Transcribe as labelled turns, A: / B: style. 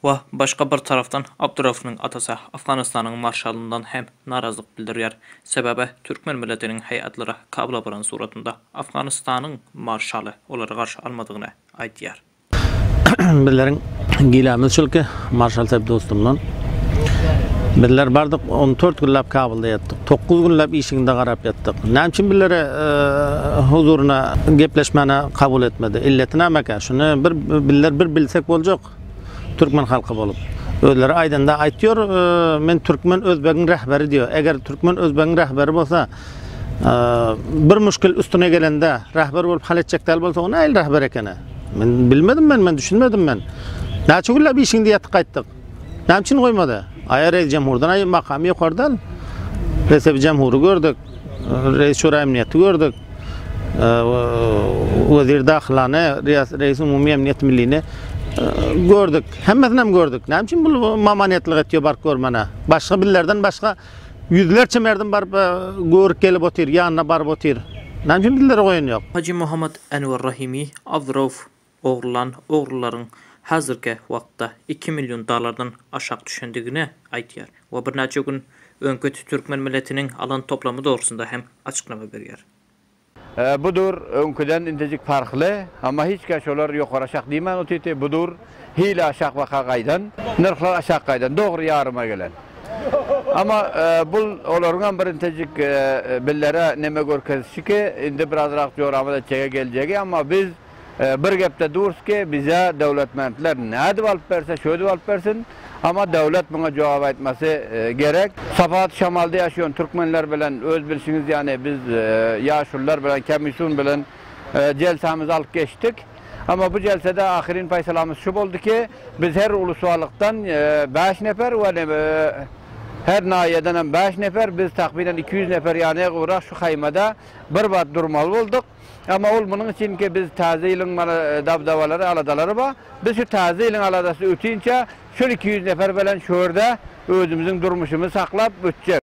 A: Wa, başga
B: bir tarapdan, Abdurauffynyň atasy Afganystanyň marşalyndan hem narazlyk bildirýär. Sebäbi, türkmen milletiniň heýatlary Kabula baran suratynda Afganystanyň marşaly olary garşy almadygyny aýdýar.
C: Bizleriň gilemiz şul ki, marşal Saýp dostumdan, Bizler bardyk, on dört günläp Kabulda ýatdyk. Dokuz günläp işiginde garap ýatdyk. Näme üçin bizleri huzuryna gepleşmäne kabul etmedi? Illeti nämekä? Şuny bir bizler bir bilsek boljak. halk. Türkmen halky bolup. Özleri aýdanda aýtýor, men türkmen özbegiň rähberi diýýär. Eger türkmen özbegiň rähberi bolsa, bir muşkil üstüne gelende rähber bolup hal etjek däl bolsa, o nähili rähber ekeni? Men bilmedim men, men düşünmedim men. Näçe günläp işiňde ýatyp gaýtdyk? Näme üçin goýmady? Aýa reýs jamhurdan aýa makamy ýokardan. Resebi jamhury gördük. Reýs şura emniýeti gördük. Wezir Dahylany, Reýis-Umumy Emniýet Millini gördük. Hemmesinem gördük. Näme üçin bu mamanetlik etýär baryp görmäne? Başga bizlerden başga ýüzlerçe merdim baryp e, görüp gelip otyr, ýanyna baryp otyr. Näme üçin bizlere goýan ýok? Hajy Muhammad Enwer
B: Rahimi Abdurauf ogrulan ogrularyň häzirki wagtda iki million dollardan aşak düşendigini aýdýar we birnäçe gün öňki türkmen milletiniň alan toplamy dogrusynda hem açyklama berýär. Bu
D: dur öňküden intejik parhly, amma hiç kän şolar ýokary aşak diýmän otyrdy, bu dur hili aşak waka gaýdan, nyrhlar aşak gaýdan, dogry ýaryma gelen. Amma bu olaryň hem bir intejik billere neme görkezişi ki, indi birazrak joramaz etjege geljegi, amma biz, Bir gepde durs ki, bize döwletmentler nädip alyp berse, şödip alyp bersin, amma döwlet muňa jogap aýtmasy gerek. Sapat şamalda ýaşaýan türkmenler bilen öz bilşiňiz ýaly biz ýaşulylar bilen komissiýon bilen jelsämizi alyp geçdik. Amma bu jelsede ahyryn paýsalamyz şu boldy ki, biz her uluswalykdan bäş nefer we her naýýeden hem bäş nefer, biz takmynan iki ýüz nefer ýanygybrak şu haýmada bir wagt durmaly bolduk. Emma ol munuň üçinki biz Täze ýylyň mana dabdabalary, aladalary bar. Biz şu Täze ýylyň aladasy ötinçä şol iki ýüz nefer bilen şu ýerde özümiziň durmuşymyzy saklap ötjek.